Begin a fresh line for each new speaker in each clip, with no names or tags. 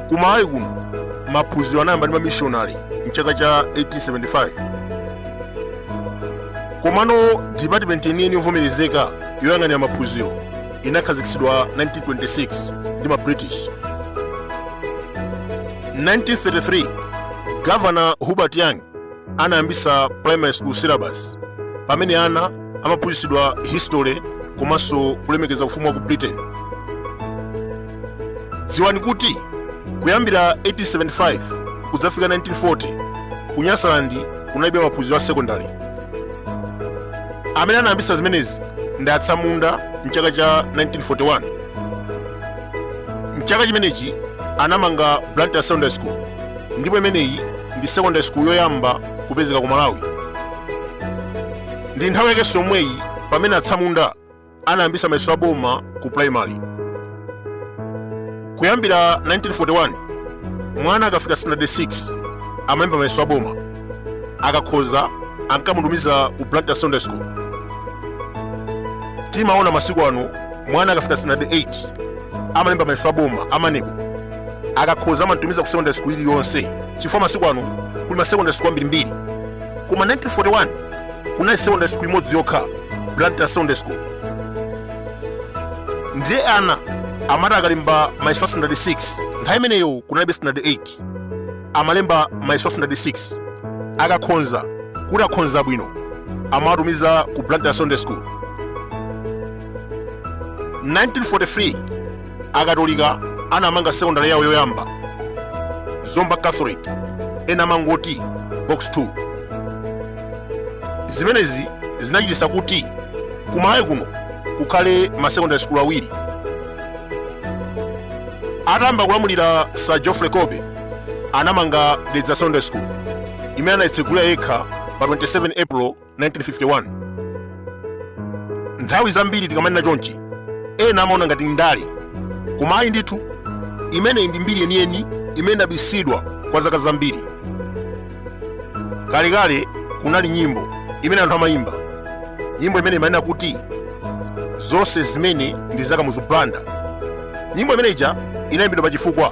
ku malawi kuno maphunziro anayamba ndi mamishonari mchaka cha 1875 komano dipatimenti yeniyeni yovomerezeka yoyang'anira maphunziro inakhazikitsidwa 1926 ndi ma british 1933 gavana hubert young anayambisa primary school syllabus pamene ana amaphunzitsidwa history komanso kulemekeza ufumu wa ku britain dziwani kuti kuyambira 1875 kudzafika 1940 ku nyasaland kunalibe maphunziro a sekondari amene anayambisa zimenezi ndi atsamunda mchaka cha 1941 mchaka chimenechi anamanga blantyre secondary school ndipo imeneyi ndi secondary school yoyamba kupezeka ku malawi ndi nthawi yakenso yomweyi pamene atsamunda anayambisa mayeso a boma ku primary kuyambira 1941 mwana akafika standard 6 amalemba mayeso a boma akakhoza ankamutumiza ku blantyre secondary school timaona masiku ano mwana akafika standard 8 amalemba mayeso a boma amenewo akakhoza amamtumiza ku secondary school iliyonse chifukwa masiku ano kuli ma secondary school ambirimbiri koma 1941 kunali secondary school imodzi yokha blantyre secondary school ndiye ana amati akalemba mayeso a standard 6 nthawi imeneyo kunalibe standard 8 amalemba mayeso a standard 6 akakhonza kuti akhonza bwino amawatumiza ku blantyre secondary school 1943 akatolika anamanga sekondale yawo yoyamba zomba catholic ena amangoti box 2 zimenezi zinachititsa kuti ku malawi kuno kukhale masekondale sukulu awiri atayamba kulamulira sir geoffrey colby anamanga dedza secondary school imene anayitsegulira yekha pa 27 april 1951 nthawi zambiri tikamanena chonchi ena amaona ngati ndale koma ayi ndithu imeneyi ndi mbiri yeniyeni imene inabisidwa kwa zaka zambiri kalekale kunali nyimbo imene anthu amayimba nyimbo imene imanena kuti zonse zimene ndi za kamuzu banda nyimbo imeneija inayimbidwa pa chifukwa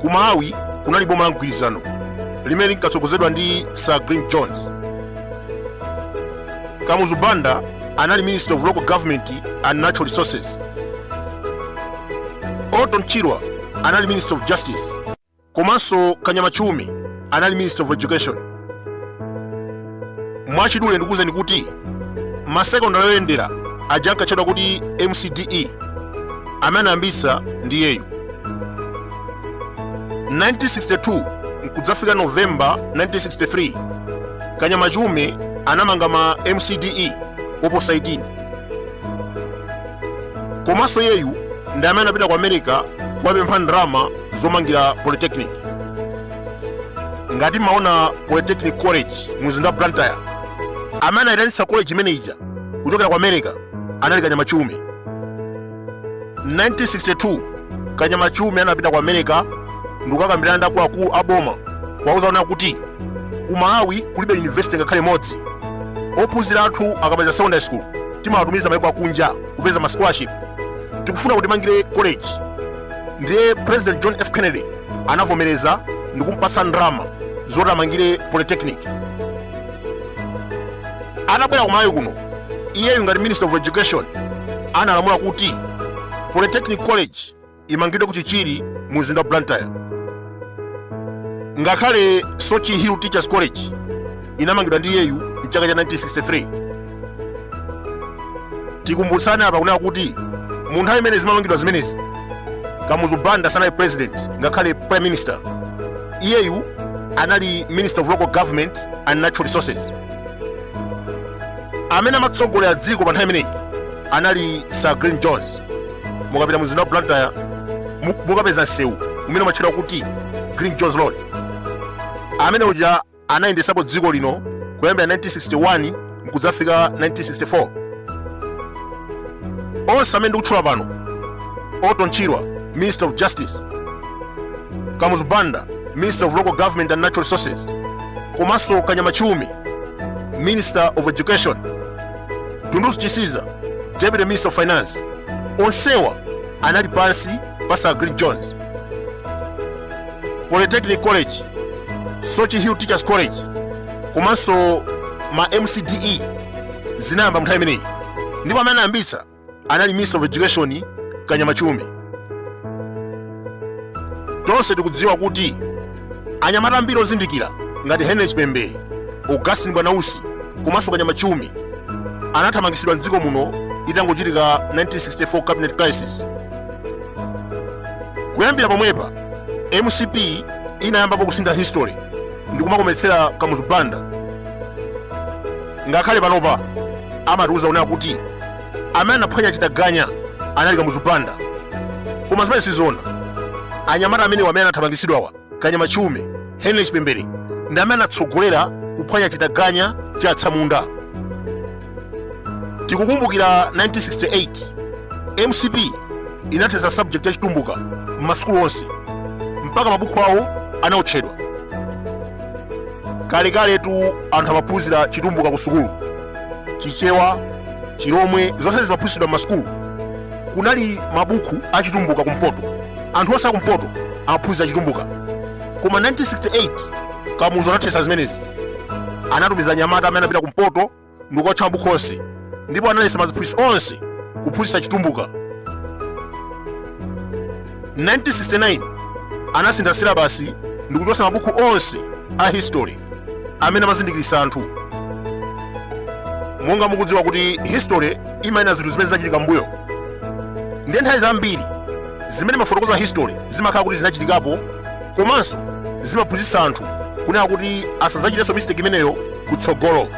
ku malawi kunali boma la mgwirizano limene linkatsogozedwa ndi sir glyn jones kamuzu banda anali minister of local government and natural resources orton chirwa anali minister of justice komanso kanyama chiume anali minister of education mwachidule ndikuwuzeni kuti masekondari oyendera aja ankatchedwa kuti mcde amene anayambitsa ndi iyeyu 1962 nkudzafika novemba 1963 kanyama chiume anamanga ma mcde oposa 18 komanso iyeyu ndi amene anapita ku america kuwapempha ndalama zomangira polytechnic ngati mumaona polytechnic college mu mzinda wa blantyre amene anayitanitsa college imene ija kuchokera ku america anali kanyama chiume 1962 kanyama chiume anapita ku america ndikukakambirana ndi akuluakulu a boma kuwauza kunena kuti ku malawi kulibe university ngakhale imodzi ophunzira athu akamaliza secondary school timawatumiza maiko akunja kupeza ma scholarship tikufuna kuti mutimangire college ndiye president john f kennedy anavomereza ndi kumpasa ndalama zoti amangire polytechnic atabwera ku malawi kuno iyeyu ngati minister of education analamula kuti polytechnic college imangidwe ku chichiri mu mzinda wa blantyre ngakhale soche hill teachers college inamangidwa ndi iyeyu mchaka cha 1963 tikumbutsane apa kunena kuti mu nthawi imene zimamangidwa zimenezi kamuzu banda sanali president ngakhale prime minister iyeyu anali minister of local government and natural resources amene amatsogolera dziko pa nthawi imeneyi anali sir glyn jones mukapita mu mzinda wa blantyre mukapeza msewu umene umatchedwa kuti glyn jones road amene uja anayendetsapo dziko lino kuyambira 1961 mkudzafika 1964 onse amene ndikutchula pano orton chirwa minister of justice kamuzu banda minister of local government and natural resources komanso kanyama chiume minister of education dunduzu chisiza deputy minister of finance onsewa anali pansi pa sir glyn jones polytechnic college soche hill teachers college komanso ma mcde zinayamba mnthawi imeneyi ndipo amene anayambitsa anali minister of education kanyama chiume tonse tikudziwa kuti anyamata ambiri ozindikira ngati henry chipembere augustine bwanausi komanso kanyama chiume anathamangitsidwa mdziko muno itangochitika 1964 cabinet crisis kuyambira pomwepa mcp inayambapo kusintha history ndikumakometsera kamuzu banda ngakhale panopa amatiuza kunena kuti amene anaphwanya chitaganya anali kamuzu banda koma zimene sizoona anyamata amenewa amene anathamangitsidwawa kanyama chiume henry chipembere ndi amene anatsogolera kuphwanya chitaganya cha atsamunda tikukumbukira 1968 mcp inathetsa subject ya chitumbuka m'masukulu onse mpaka mabuku awo anaotchedwa kalekaletu anthu amaphunzira chitumbuka ku sukulu chichewa chilomwe zonse zimaphunzitsidwa m'masukulu kunali mabuku a chitumbuka kumpoto anthu onse akumpoto amaphunzira chitumbuka koma 1968 kamuzu anathetsa zimenezi anatumiza anyamata amene anapita kumpoto ndi kukaotcha mabuku onse ndipo analetsa aziphunzitsi onse kuphunzitsa chitumbuka 1969 anasintha silabasi ndi kuchotsa mabuku onse a history amene amazindikiritsa anthu monga mukudziwa kuti history imanena zinthu zimene zinachitika mbuyo ndiye nthawi zambiri zimene imafotokoza history zimakhala kuti zinachitikapo komanso zimaphunzitsa anthu kunena kuti asadzachitenso mistake imeneyo kutsogolo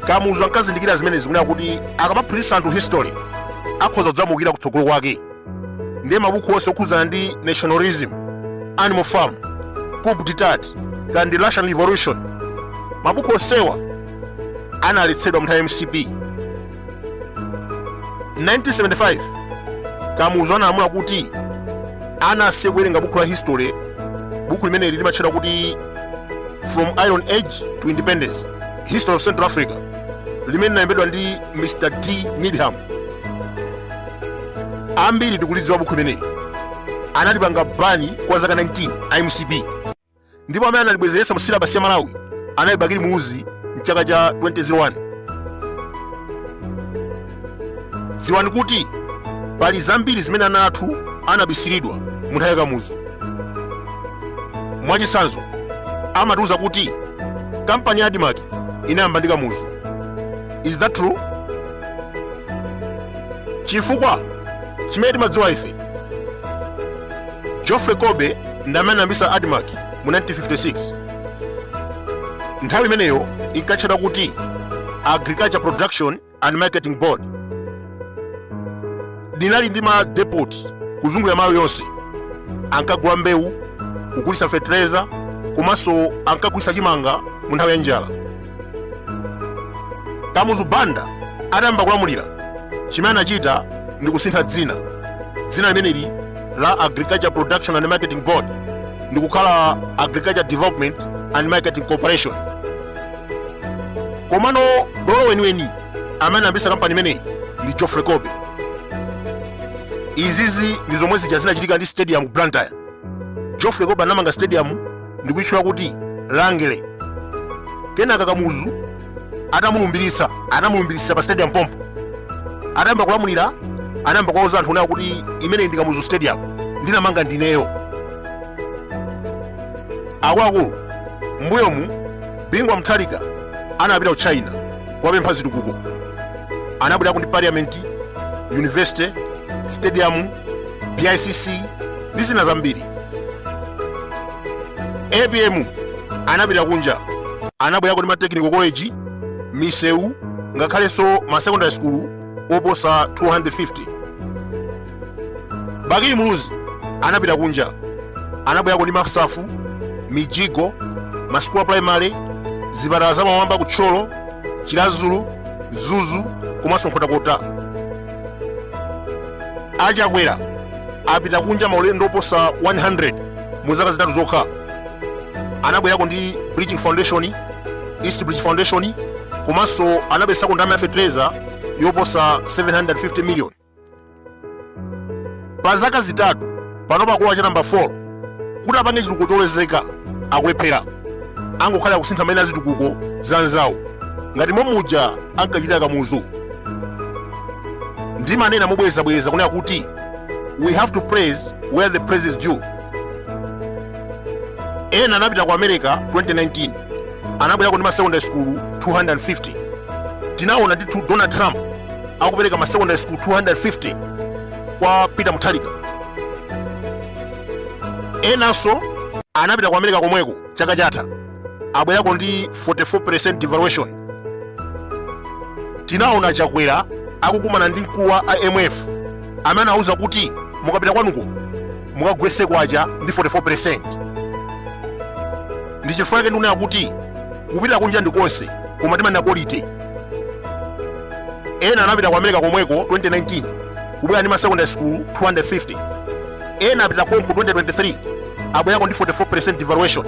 kamuzu ankazindikira zimenezi kunena kuti akamaphunzitsa anthu history akhoza kudzamuukira kutsogolo kwake ndiye mabuku onse okhudzana ndi nationalism animal farm coup d'etat kandi russian revolution mabuku onsewa analetsedwa mnthawi ya mcp 1975 kamuzu analamula kuti ana asiye kuwerenga buku la history buku limeneli limatchedwa kuti from iron age to independence history of central africa limene linalembedwa ndi mr d needham ambiri tikulidziwa buku limeneli analipanga bani kwa zaka 19 a mcp ndipo amene analibwezeretsa mu silabasi ya malawi anali bakili muluzi mchaka cha 2001 dziwani kuti pali zambiri zimene ana athu anabisiridwa mu nthawi ya kamuzu mwachitsanzo amatiuza kuti kampani ya admarc inayambidwa ndi kamuzu is that true chifukwa chimene timadziwa ife Geoffrey Colby ndi amene anayambitsa Admarc mu 1956. Nthawi imeneyo inkatchedwa kuti Agriculture Production and Marketing Board. Inali ndi ma depot kuzungulira Malawi yonse. Ankagula mbewu, kugulitsa fertilizer komanso ankagulitsa chimanga mu nthawi ya njala. kamuzu banda atayamba kulamulira chimene anachita ndi kusintha dzina dzina limeneli la agriculture production and marketing board ndi kukhala agriculture development and marketing corporation komano bolo weniweni amene anayambitsa kampani imeneyi ndi geoffrey colby izizi ndi zomwe zija zinachitika ndi stadium blantyre geoffrey colby anamanga stadium ndi kuitchula kuti Rangeley. Kenaka Kamuzu atamulumbiritsa, anamulumbiritsa pa stadium pompo. Atayamba kulamulira, anayamba kuwauza anthu kunena kuti imeneyi ndi Kamuzu Stadium, ndinamanga ndineyo. Akuluakulu, m'mbuyomu Bingu wa Mutharika anapita ku China kuwapempha zitukuko. Anabwerako ndi parliament, university, stadium, BICC ndi zina zambiri. apm anapita kunja anabwerako ndi ma technical college misewu ngakhalenso ma secondary school oposa 250 bakili muluzi anapita kunja anabwerako ndi masafu mijigo masukulu a primary zipatala zamphamba ku thyolo chiradzulu mzuzu komanso nkhotakota a chakwera apita kunja maulendo oposa 100 mu zaka zitatu zokha anabwerako ndi bridging foundation east bridge foundation komanso anabweretsako ndalama ya fertilizer yoposa 750 million pa zaka zitatu pano pakulowa cha namba 4 kuti apange chitukuko cholozeka akulephera angokhala akusintha maina a zitukuko za anzawo ngati momuja ankachitira kamuzu ndimanena mobwerezabwereza kunena kuti we have to praise where the praise is due ena anapita ku america 2019 anabwerako ndi masecondary school 250 tinaona ndithu donald trump akupereka masecondary school 250 kwa peter mutharika enanso anapita ku america komweko chaka chatha abwerako ndi 44 percent devaluation tinaona chakwera akukumana ndi mkulu wa imf amene anauza kuti mukapita kwanuko mukagwetse kwacha ndi 44 percent ndi chifukwa chake ndikunena kuti kupita kunja ndi konse koma timanena quality ena anapita ku america komweko 2019 kubwera ndi ma secondary school 250 ena apita konko 2023 abwerako ndi 44 percent devaluation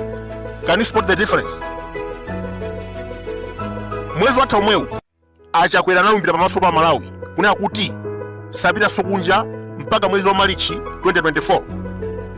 can you spot the difference mwezi watha omwewu a chakwera analumbira pamaso pa amalawi kunena kuti sapitanso kunja mpaka mwezi wa malichi 2024